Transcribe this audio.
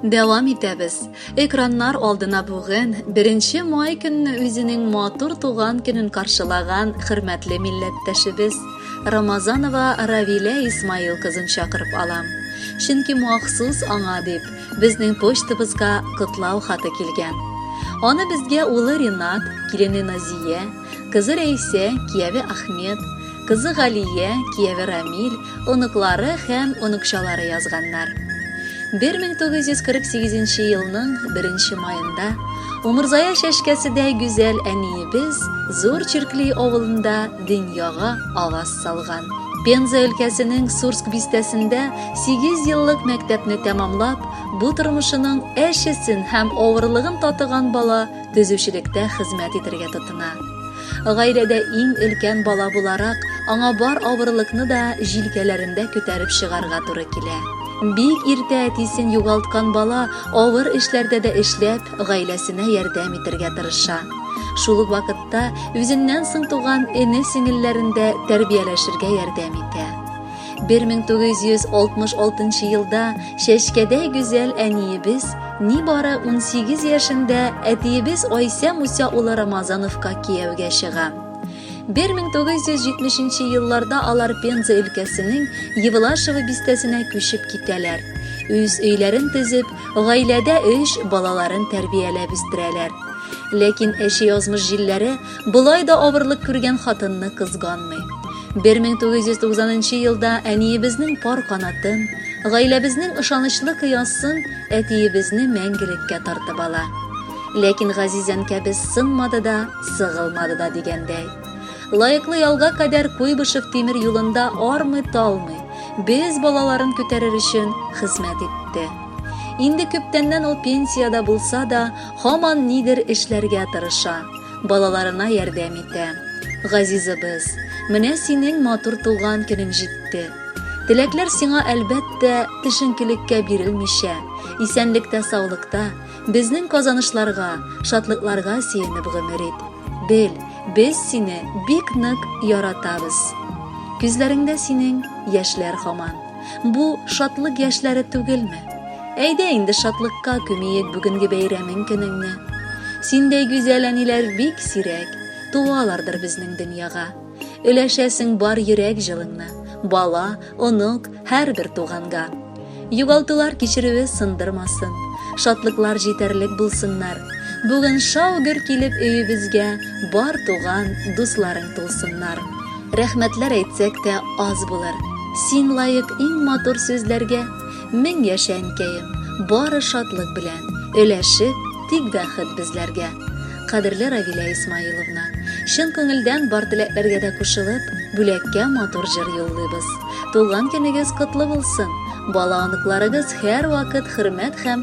Дәвам итәбез. Экраннар алдына бүген 1 май көнне үзенең матур туган көнен каршылаган хөрмәтле милләттәшебез Рамазанова Равилә Исмаил кызын чакырып алам. Чөнки махсус аңа дип безнең почтабызга котлау хаты килгән. Аны безгә улы Ринат, килене Назия, Кызы Рәисә, кияве Ахмет, кызы Галия, кияве Рамил, оныклары һәм оныкчалары язганнар. 1948 елның 1 маенда Умырзая чәчкәседәй гүзәл әниебез Зур Черкли авылында дөньяга аваз салган. Пенза өлкәсенең Сурск бистәсендә 8 еллык мәктәпне тәмамлап, бу тормышының әчесен һәм авырлыгын татыган бала төзүчелектә хезмәт итергә тотына. Гаиләдә иң өлкән бала буларак, аңа бар авырлыкны да җилкәләрендә күтәреп чыгарга туры килә. Бик иртә әтисен югалткан бала авыр эшләрдә дә эшләп, гаиләсенә ярдәм итергә тырыша. Шул ук вакытта үзеннән соң туган эне-сеңелләрен дә тәрбияләшергә ярдәм итә. 1966 елда Чәчкәдә гүзәл әниебез нибары 18 яшендә әтиебез Айсә Муса улы Рамазановка кияүгә чыга. 1970 елларда алар Пенза өлкәсенең Евлашево бистәсенә күчеп китәләр. Үз өйләрен төзеп, гаиләдә 3 балаларын тәрбияләп үстерәләр. Ләкин әче язмыш җилләре Болай да авырлык күргән хатынны кызганмый. 1990 елда әниебезнең пар канатын, гаиләбезнең ышанычлы кыясын әтиебезне мәңгелеккә тартып ала. Ләкин газиз әнкәбез сынмады да, сыгылмады да дигәндәй. Лаеклы ялга кадәр Куйбышев тимер юлында армый талмый, без балаларын күтәрер өчен хезмәт итте. Инде күптәннән ул пенсиядә булса да, һаман нидер эшләргә тырыша, балаларына ярдәм итә. Газизебез, менә синең матур туган көнең җитте. Теләкләр сиңа, әлбәттә, төшенкелеккә бирелмичә, исәнлектә-саулыкта, безнең казанышларга, шатлыкларга сөенеп гомер ит. Бел, без сине бик нык яратабыз. Күзләреңдә синең яшьләр һаман. Бу шатлык яшьләре түгелме? Әйдә инде шатлыкка күмиек бүгенге бәйрәмең көнеңне. Синдәй гүзәл әниләр бик сирәк, туалардыр безнең дөньяга. Өләшәсең бар йөрәк җылыңны, бала, онук, һәрбер туганга. Югалтулар кичерүе сындырмасын, шатлыклар җитәрлек булсыннар. Бүген шау-гөр килеп өебезгә бар туган, дусларың тулсыннар. Рәхмәтләр әйтсәк тә аз булыр. Син лаек иң матур сүзләргә. Мең яшә әнкәем, бары шатлык белән. Өләшеп, тик бәхет безләргә. Кадерле Равилә Исмаиловна, чын күңелдән бар теләкләргә дә кушылып, бүләккә матур җыр юллыйбыз. Туган көнегез котлы булсын! Бала-оныкларыгыз һәрвакыт хөрмәт һәм